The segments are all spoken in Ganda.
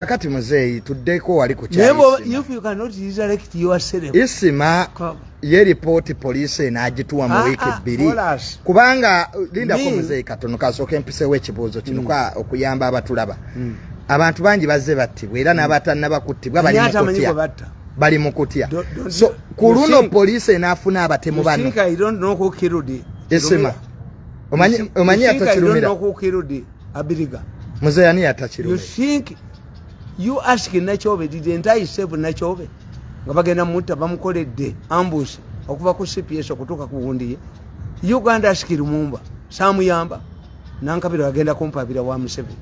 Kakati muzeeyi tuddeko wali ku isima ye lipooti poliisi enaagituwa mu ah, wiiki ah, bbiri kubanga uh, lindako muzeeyi katono kasooka empisewo ekibuuzo kino hmm. okuyamba abatulaba hmm. abantu bangi bazze battibwa era hmm. n'abatannaba kuttibwa bali mukutya bali mukutya so ku luno poliisi enaafuna abatemu bano isima omanyi atakirumira Abiriga. Mzee yani yata Kirume. You think you ask Nachobe did the entire save Nachobe? Nga bagenda mutta bamukoledde ambush okuva ku CPS okutuka ku wundi ye. Uganda ask Lumumba. Samuyamba. Nankabira agenda kumpabira wa Museveni.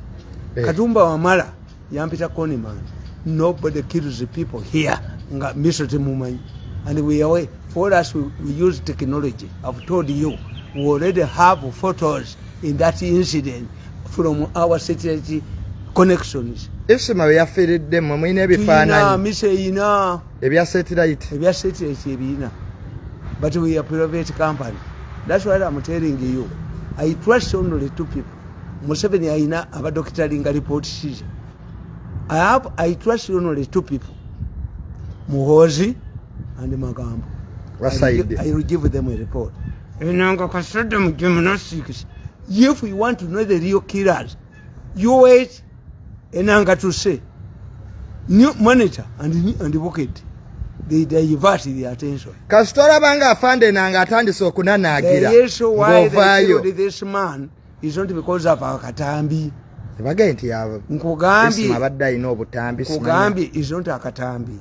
Eh. Katumba wamala. yampita koniman nobody kills the people here nga miso temumanyi and we away for us we, we use technology i've told you we already have photos in that incident from our satellite connections isima weyafiridde mwe mulina ebifaananyi miso eyina ebya satellite ebya satellite ebiyina but we are private company that's why i'm telling you i trust only two people museveni alina abadokita alinga report sheet i have i trust only two people muhozi and magambo i will give them a report enanga kasada mujemuna six if you want to know the real killers you wait enanga to say new monitor and and bucket they divert the attention kastora banga afande nanga atandise okunanagira ngovayo this man is not because of our katambi bagenti yabo nkugambye abadde alina obutambi nkugambye is not akatambi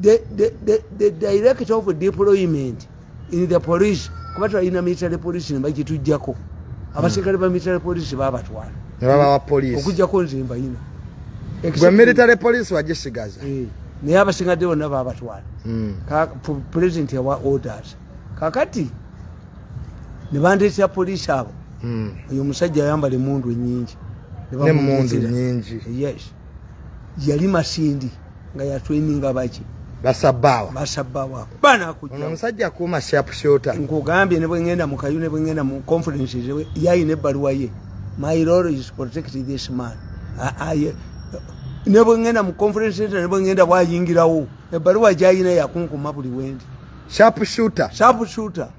the, the, the, the director of deployment in the police kuba twalina military police nebagitujjako hmm. abaserikale ba military police babatwala nebabawa police okujjako nze mbayina gwe military police wagisigaza eh, naye abasingadde bonna babatwala hmm. president yawa orders kakati nebandeetera police abo hmm. oyo omusajja ayambala emundu enyingi nemundu nyingi yes yali masindi nga ya training abaki basabawa basabawa bana kujja ono musajja kuma sharp shooter ngogambye ne bwengenda mu kayune bwengenda mu conference jewe yayi ne baluwa ye my role is protect this man aye ne bwengenda mu conference center ne bwengenda wayingirawo ebaluwa jayina yakunkuma buli wendi sharp shooter sharp shooter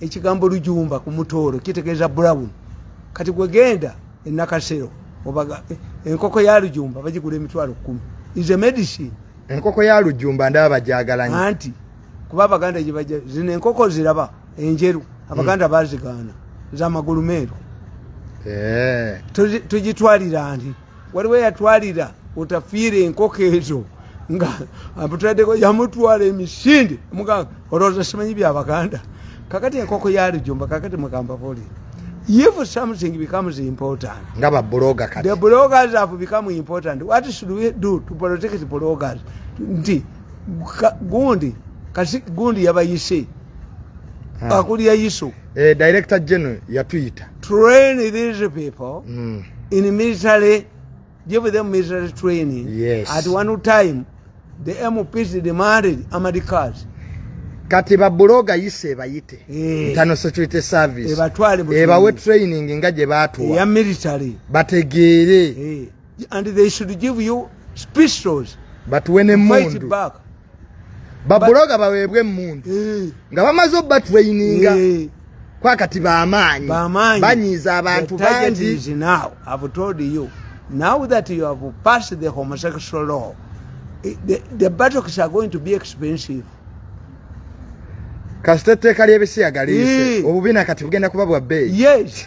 ekigambo lujumba ku mutooro kitegeeza brown kati gwe genda enakasero obaga eh, enkoko ya lujumba bagigula emitwalo kumi is a medicine enkoko ya lujumba ndaba bajagalanya anti kuba abaganda gyebaja zino enkoko ziraba enjeru abaganda hmm. bazigaana zamagulu meeru eh. tugitwalira nti waliwo yatwalira otafiire enkoko ezo nga amutadeko yamutwala emisinde mugamba olowooza simanyi byabaganda kakati enkoko yalijumba kakati mugamba boli if something becomes important nga ba blogger kati the bloggers have become important what should we do to protect the bloggers nti gundi kasi gundi yabayise akulya yiso eh, director general yatuyita train these people mm. in military give them military training yes. at one time the mps demanded amadi cars kati babuloga yise ebayite eh. ntano security service ebawe training nga gye batuwa bategeere eh. and they should give you pistols batuwe nemundu babuloga baweebwe emundu eh. nga bamaze obatraininga eh. kwakati bamaanyi banyiiza abantu bangi now i've told you now that you have passed the homosexual law eh, the, the battles are going to be expensive kasita etteeka ly'ebisiyaga liise obubi nakati bugenda kuba bwa bbeeyi yes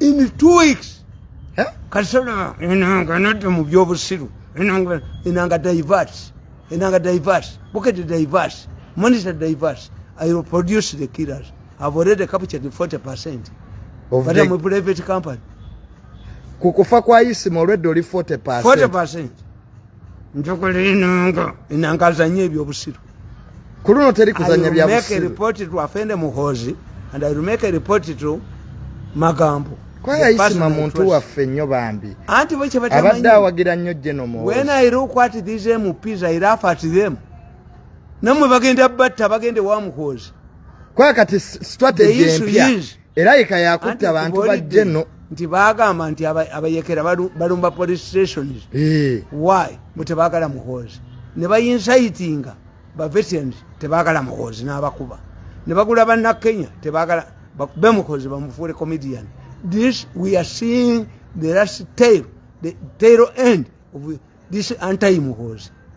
in two weeks eh? kasana enanga anadda mu byobusiru enanga enanga diverse enanga diverse bukete diverse monitor diverse i will produce the killers i've already captured 40 percent of but the... i'm a private company kukufa kwa isima already oli 40 percent 40 percent njogera enanga enanga azanye ebyobusiru ku luno teri kuzanya byabusiruepoti to afende muhozi and i make a report to magambo kwayayisima muntu waffe nnyo bambi anti bo kyebatabadde awagira nnyo jeno mu when i look at these mps i laugh at them namwe bagenda batta bagende wa muhozi kwakati strategy empya era yeka yakutta bantu bajje no nti bagamba nti abayekera balumba police stations eh. why mutebagala muhoozi ne bayinsaitinga bavetens tebagala muhoozi n'abakuba ne bagula banna kenya tebagala be muhoozi bamufuule comedian this we are seeing the last tail the tail end of this anti muhoozi